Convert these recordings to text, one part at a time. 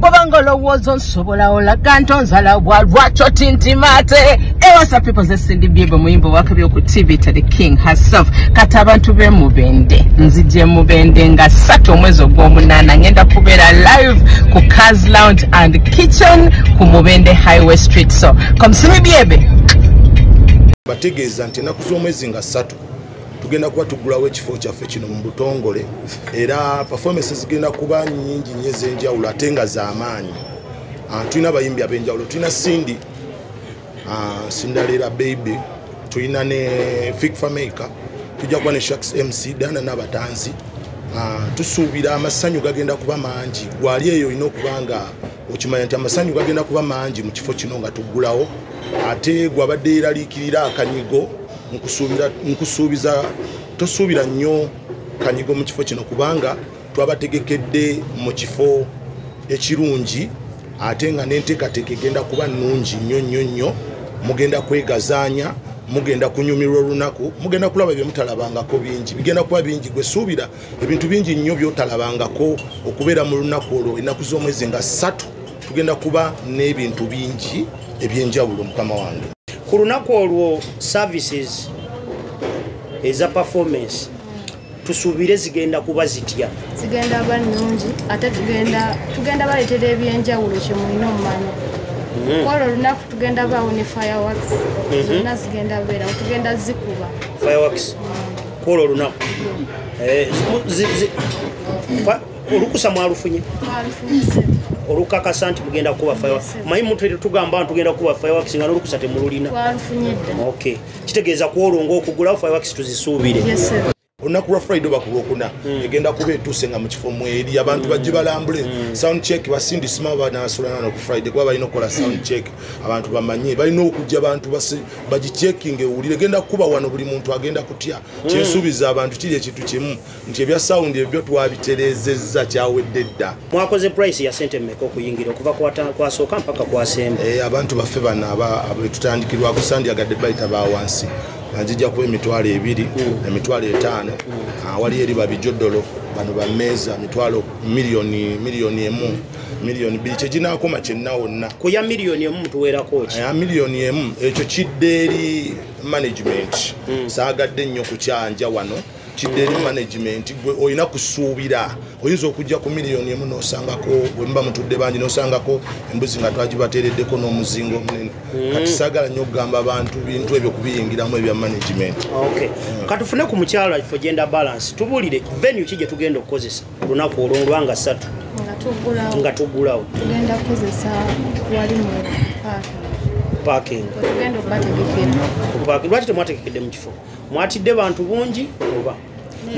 bwobanga olowooza onsobola olaga nti onzala bwa lwakyo tintima ate ewasa people zesindi byebwe muyimba owakabi oku tv to the king herself kati abantu bemubende nzije mubende nga satu omwezi ogwomunaana ngenda kubeera live ku cars lounge and kitchen ku mubende highway street so komsimi byebe bategeeza nti enaku z'omwezi nga satu tugenda kuba tuggulawo ekifo kyaffe kino mu butongole era performance zigenda kuba nyingi nyo ez'enjawulo ate nga z'amaanyi ah, tulina abayimbi ab'enjawulo tulina sindi ah, sindaleera baby tulina ne fikfameica tujja kuba ne shaks mc dana n'abatanzi ah, tusuubira amasanyu gagenda kuba mangi gwali eyo olina okuba nga okimanya nti amasanyu gagenda kuba mangi mu kifo kino nga tuggulawo ate gwabadde yeraliikirira akanyigo nkusuubiza tosuubira nnyo kanyigo mu kifo kino kubanga twabategekedde mu kifo ekirungi ate nga n'enteekateeka egenda kuba nnungi nnyo nnyo nnyo mugenda kwegazaanya mugenda kunyumirwa olunaku mugenda kulaba bye mutalabangako bingi bigenda kuba bingi gwe suubira ebintu bingi nnyo byotalabangako okubeera mu lunaku olwo ennaku z'omwezi nga ssatu tugenda kuba n'ebintu bingi ebyenjawulo mukama wange ku lunaku olwo services eza performance tusuubire zigenda kuba zitya zigenda ba nnungi ate tugenda baleetera ebyenjawulo kyemulina omumanya Mm-hmm. kwolwo olunaku tugenda baawo ne fireworks mm-hmm. zonna zigenda beerawo tugenda zikuba fireworks mm. kwolwo olunaku eh, olukusa mwalufunye olukakasa nti mugenda kukuba fire manyi muntu tugamba nti tugenda kukuba fireworks nga nolukusa temululina ok kitegeeza kwolwo ngaokugulawo fireworks tuzisuubire olunaku lwa friday oba ku lwokuna hmm. egenda kuba etuuse nga mu kifo mweri abantu bajje hmm. balambule hmm. sound check basindisima banabasolanana ku friday kuba balina okukola sound check abantu bamanye balina okujja abantu bagicekinga ewulire genda kukuba wano buli muntu agenda kutya hmm. kyensuubiza abantu kiri ekintu kimu nti ebya sawundi ebyo twabitereezezza kyawedde dda mwakoze price ya sente mmeka okuyingira okuva kwasooka mpaka kwasemba eh, abantu baffe bano abetutandikirwako sandyagadde bayita ba wansi anzijja kuba emitwalo ebiri hmm. emitwalo etaano hmm. awali ah, eri babijodolo bano bameeza mitwalo miliyoni emu miliyoni bbiri kyeginaakoma kyenna wonna ku ya miliyoni emu mutuweerako ki ya miliyoni emu ekyo kidde eri management hmm. saagadde nnyo kukyanja wano kidde eri management gwe olina kusuubira oyinza okujja ku miliyoni emu nosangako wemuba mutudde bangi nosangako embuzi nga twagibateereddeko n'omuzinga omunene hmm. kati saagala nnyo okugamba abantu bintu ebyo kubiyingiramu ebya management hmm. katufune ku mukyalo ifo genda balance tubuulire venue ki gye tugenda okukozesa olunaku olwolwa nga satu nga tugulawo tugenda kukozesa wali mu parking lwaki temwategekedde mu kifo mwatidde bantu bungi oba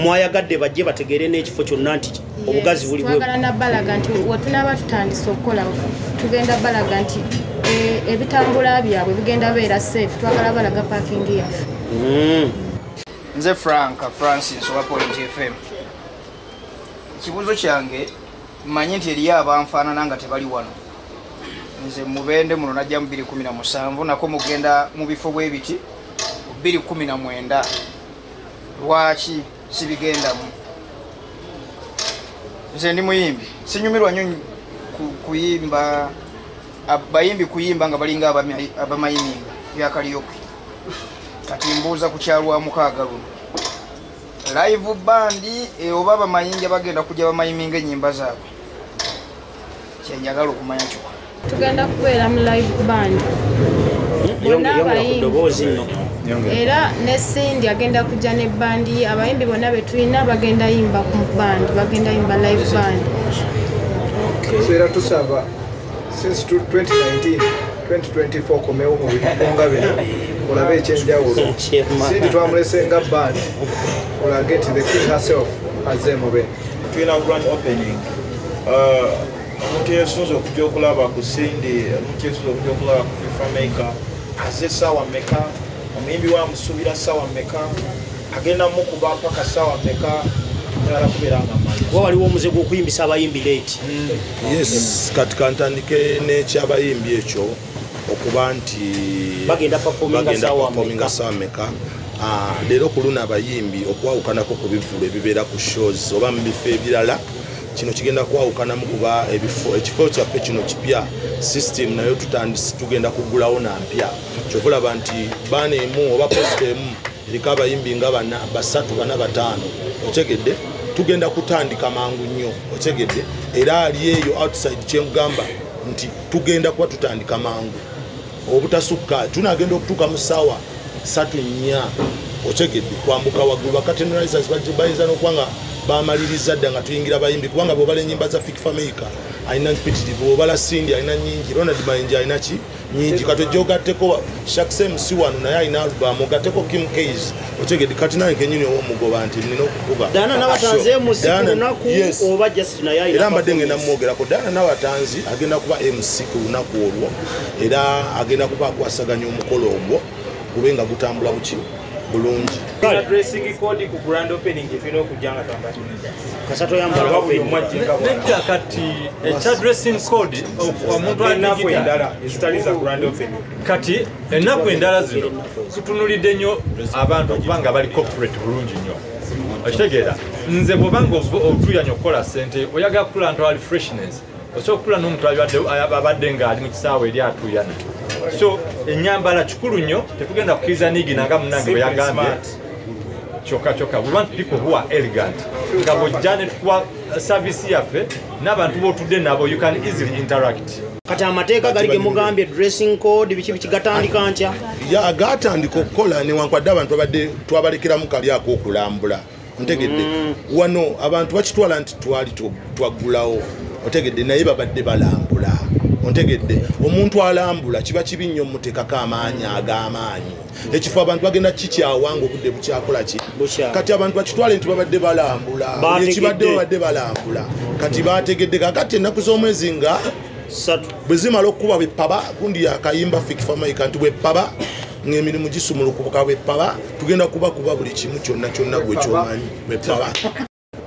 mwayagadde bajje bategeere n'ekifo kyonna nti obugazi buli twagala nabalaga nti wetunaba tutandise okukola tugenda balaga nti eh, ebitambula byabwe bigenda beera safe twagala balaga parking yaffe mm. nze frank francis owa point fm ekibuuzo kyange mmanyi nti eriyo abanfaanana nga tebali wano nze mubende muno najja mu 217 nako mugenda mu bifo bwe biti 219 lwaki sibigendamu nze ndi muyimbi sinyumirwa nyo kuyimba bayimbi kuyimba nga balinga abamayimimba byakaliyoki kati mbuuza ku kyalwamukaaga luno live band eh, oba bamayinja bagenda kujja bamayiminga enyimba zaabwe kyenjagala okumanya kyoka tugenda kubeera mu live band bonna abayimbi era ne sindi agenda kujja ne bandi abayimbi bonna betulina bagenda yimba ku band bagenda yimba live band era tusaba since 2019 2024 komewo mu bifo nga bino olabe ekyenjawulo sindi twamulese nga band olage ti the king herself aze mube tulina grand opening uh, omuntu yesunza okuja okulaba ku sindi omuntu yesunza okuja okulaba ku fifa maker aze sawa meka omuyimbi wamusubira sawa meka agenda mukuba paka sawa meka nyala kubera nga mali kuba waliwo omuze gwokuyimbisa abayimbi late mm. yes kati kantandike nekyabayimbi ekyo okuba nti bagenda performinga sameka ah, leero ku luno abayimbi okwawukanako ku bivulu ebibeera ku shows oba mu bifo ebirala kino kigenda kwawukanamu kuba ebifo ekifo kyaffe kino kipya system nayo tutandisi tugenda kugulawo nampya kyokulaba nti baana emu oba posta emu eriko abayimbi nga bana basatu bana bataano otegedde tugenda kutandika mangu nnyo otegedde era ali eyo outside kyemugamba nti tugenda kuba tutandika mangu obutasukka tunagenda okutuuka mu saawa satu nnya otegedde kwambuka waggulu bakatenrisers bayinza nokuba nga bamaliriza dda nga tuyingira bayimbi kubanga bwobala enyimba za fik fameica alina mpitirivu obala sindi alina nyingi ronald mayinja alina ki nyingi kati ojogatteko shaksem si wano naye alina alubamu ogatteko kim cas otegede kati naye kenyini owomugoba nti nina okukuba era mbadde ngenda mumwogerako daana nabatanzi agenda kuba mc ku lunaku olwo era agenda kuba akwasaganya omukolo ogwo gube nga gutambula buki bulungi nedda kati ekya dressing code omuntu aendala ezitali za grand open kati ennaku endala zino zitunulidde nnyo abantu okuba nga bali corporate bulungi nnyo okitegeera nze bwobanga otuyanya okukola sente oyagala kukula ntu ali freshness osobola okutula n'omuntu abadde ng'ali mu kisaawe eri atuuyana so enyambala kikulu nnyo tetugenda kukiriza nigina nga munange bwe yagambye kyokka kyokka we want people who are elegant nga bwojja ne tukuwa uh, service yaffe n'abantu b'otudde nabo you can easily interact kati amateeka gali gemugambye dressing code biki biki gatandika ntya ya gatandika okukola newankwadde abantu abadde twabalekeramu kali ak'okulambula ntegedde mm. wano abantu bakitwala nti twali twaggulawo otegedde naye babadde balambula ontegedde omuntu alambula kiba kibi nnyo mutekako amaanyi ag'amaanyi ekifo abantu bagenda kikyawanga obudde bukyakola ki kati abantu bakitwale nti babadde balambula ekibadde babadde balambula kati bategedde kakati ennaku z'omwezi nga satu bwe zimala okukuba bwepaba gundi yakayimba fikifamaika nti bwepaba ng'emirimu gisumulukuka bwepaba tugenda kuba kuba buli kimu kyonna kyonna gwe kyomanyi bwepaba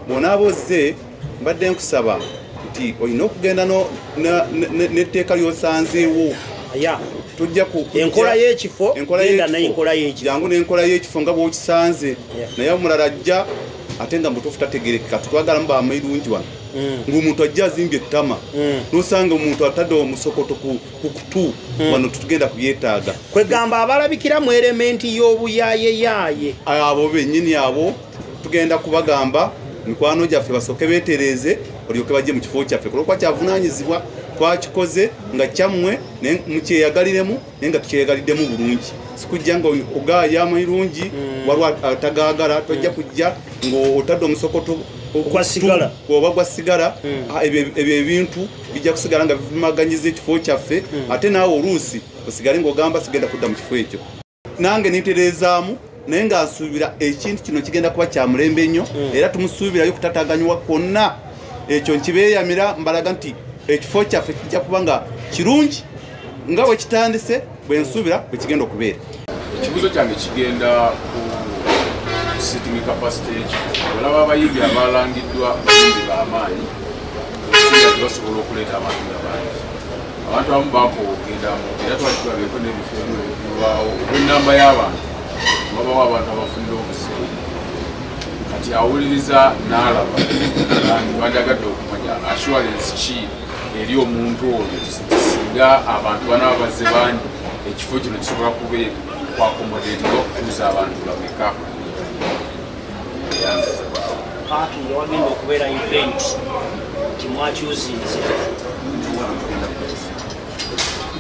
bwonaaba ozze mbadde nkusaba nti olina okugenda n'etteeka lyosanzeewo ya tujja ku enkola y'ekifo enkola y'ekifo jangu n'enkola y'ekifo nga bw'okisanze naye omulala ajja ate nga mutuufu tategerekeka twagalamu bamairungi wano mm. ng'omuntu ajja azimbye ettama mm. nosanga omuntu atadde omusokoto ku kutu mm. wano tutugenda kubyetaaga kwegamba abalabikira mu erementi y'obuyayeyaaye abo benyini abo tugenda kubagamba mikwano gyaffe basooke betereeze olyoke bajje mu kifo kyaffe kulwokuba kyavunanyizibwa twakikoze nga kyammwe mukyeyagaliremu naye nga tukyeyagaliddemu bulungi sikujja nga ogaaya amayirungi mm. waliwo atagaagala tojja mm. kujja ngaotadde omusokoto kwasigala oba gwa sigala hmm. ah, ebyo ebintu bijja kusigala nga bivumaganyiza ekifo kyaffe hmm. ate naawe oluusi osigale ngaogamba sigenda kudda mu kifo ekyo nange nitereezaamu naye nga nsuubira ekintu kino kigenda kuba kya mulembe nnyo mm. era tumusuubirayo okutataganywa kwonna ekyo nkibeeyamira mbalaga nti ekifo kyaffe kijja kuba nga kirungi nga bwe kitandise bwe nsuubira bwe kigenda okubeera ekibuzo kyange kigenda ku sitting capacity y'ekifo olaba abayimbi abaalangiddwa bayimbi b'amaanyi basobola okuleeta abantu nga bangi abantu abamu bakoowa okugenda mu era twakitulabyeko n'ebifo ebyo ebibulwawo olw'ennamba y'abantu babawo abantu abafunira obuseera kati awuliriza n'alaba bandagadde okumanya assurance ki eri omuntu oyo singa abantu banaba bazze bangi ekifo kino kisobola kuba kwakomodeeti okutuuza abantu bameka paaki yewagenda okubeera event kimwakyuzinze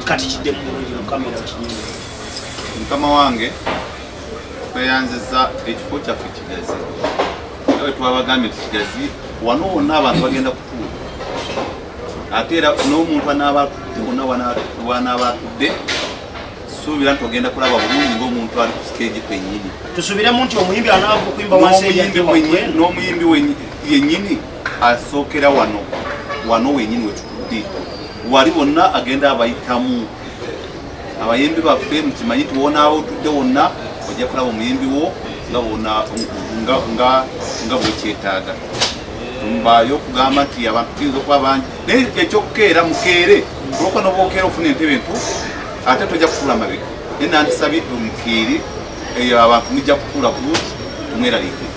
kati kidde mu bulungi mukamera kinyuma mukama wange tweyanziza ekifo kyaffe kigazi era wetwabagambye nti kigazi wano wonna abantu bagenda kutuula ate era n'omuntu anaaba atudde wonna wanaaba atudde suubira nti ogenda kulaba bulungi ngaomuntu ali ku stage kwenyini tusubiremu nti omuyimbi anaava okuyimba n'omuyimbi yenyini asookera wano wano wenyini wetutudde wali wonna agenda abayitamu abayimbi baffe mukimanyi tiwonaawo otudde wonna ojja kulaba omuyimbi wo nga wona nga bwekyetaaga mbayo okugamba nti abantu tuyinza okuba bangi naye ekyokukeera mukeere olwokuba nobwokeera ofuna entebe entuufu ate tojja kutuula mabega naye nandisabye omukeere eyo abantu mujja kutuula bulungi tumweraliike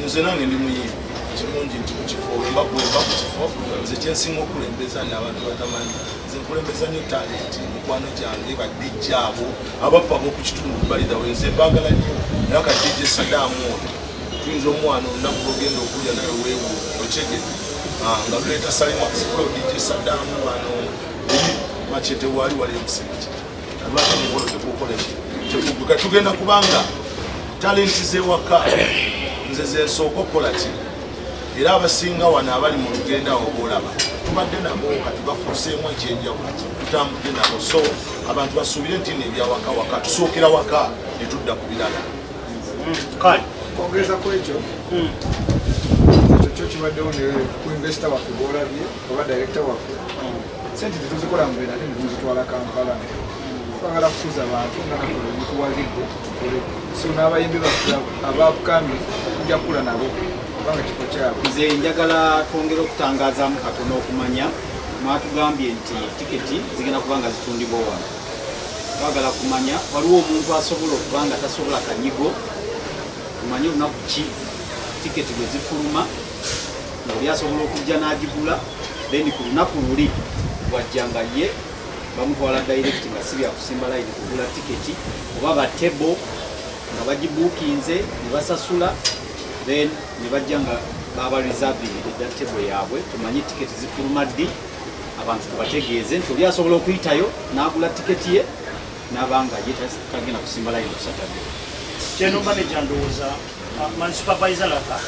nze nange ndi muyimbi kirungi nti mukifo wemba kuwemba ku kifo nze kyensinga okulembeza naabantu batamanyi nze nkulembeza nyo talenti mikwano gyange badijja abo abappa bokukitundu balidawe nze mbagala nyo naye kadijja esadaamu oyo tuyinza omwana olunaku lwogenda okulya naye weewo okyege ah, nga luleeta salimakusikulodije sadaamu wano makyete waali wali emusingi lwaki mukolo tekukoleki tekuguka tugenda kubanga talenti zewaka nze zensooka okukola ki era abasinga wano abali mu lugenda awo boolaba tubadde nabo kati bafuuseemu ekyenjawulo tutambudde nabo so abantu basuubire nti nebyawakawaka tusookera waka netudda ku birala kale okwongeza ku ekyo hmm. ekyo kyo kibaddewo ne ku investa waffe gwolabye oba direkita waffe hmm. sente tetuzikola mubera ate netuzitwala kampala twagala kukuza bantu nga nakola omukuwagidde so n'abayimbi baffe abakambi tujja kukula nabo kubanga kifo kyabwe nze njagala twongere okutangazaamu katono okumanya mwatugambye nti tiketi zigenda kuba nga zitundibwa wano bagala kumanya waliwo omuntu asobola okuba nga tasobola kanyigo omanye olunaku ki tiketi bwe zifuluma oli asobola okujja n'agigula then ku lunaku luli wajja nga ye bamutwala direct nga si byakusimba layini kugula tiketi oba batebo nga bagibuukinze ne basasula then ne bajja nga baba reserving edda tebo yaabwe tumanye tiketi zifuluma ddi abantu tubategeeze nti oli asobola okuyitayo n'agula tiketi ye n'aba nga ye tagenda kusimba layini kusatadde kyeno maneja ndowooza ah, man supervise laka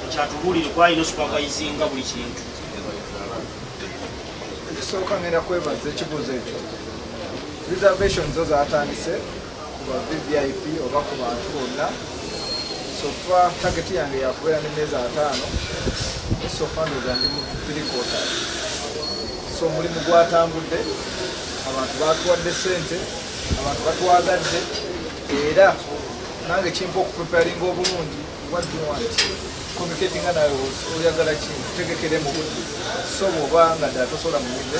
ekyatubuulire kwalina supervise nga buli kintu ekisooka ngenda kwebaza ekibuuzo ekyo reservation zo zatandise ku ba vvip oba ku bantu bonna sofa tageti yange yakubeera ne meezi ataano esofa ndoza ndi mu tirikota so omulimu gwatambudde abantu batuwadde sente abantu batwagadde era nange kimpa okupreparinga obulungi what do you want communicating nawe oyagala ki tegekere mu budde so bwoba nga ddala tosobola muyimbe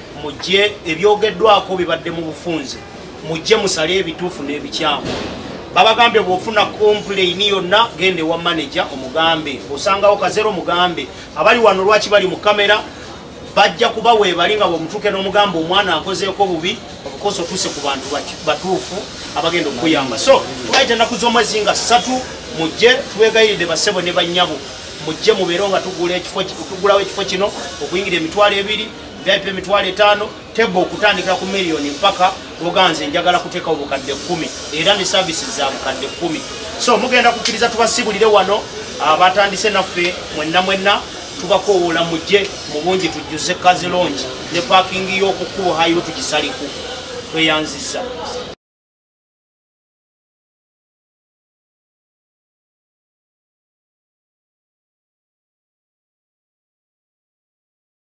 mujje ebyogeddwako bibadde mu bufunze mujje musale ebituufu n'ebikyamu babagambye bwofuna kompulaini yonna genda ewa maneja omugambe osangawo kazero omugambe abali wano lwaki bali mu kamera bajja kuba webali nga bwemutuuke n'omugambe omwana akozeeko bubi obukosa otuuse ku bantu batuufu abagenda okukuyamba so tulayita ennaku z'omwezi nga ssatu mujje tubegayiridde basebo ne bannyabo mujje mubeero nga tugulawo ekifo kino okuyingira emitwalo ebiri vip emitwalo etaano tebo okutandikira ku miliyoni mpaka oganze njagala kuteekawo bukadde kkumi era ne saavisi za bukadde kkumi so mugenda kukkiriza tubasibulire wano abatandise ah, naffe mwenna mwenna tubakowoola mujje mu bungi tujjuze kazilongi ne paakingi y'oku kkubo hayiro tugisaliku tweyanziza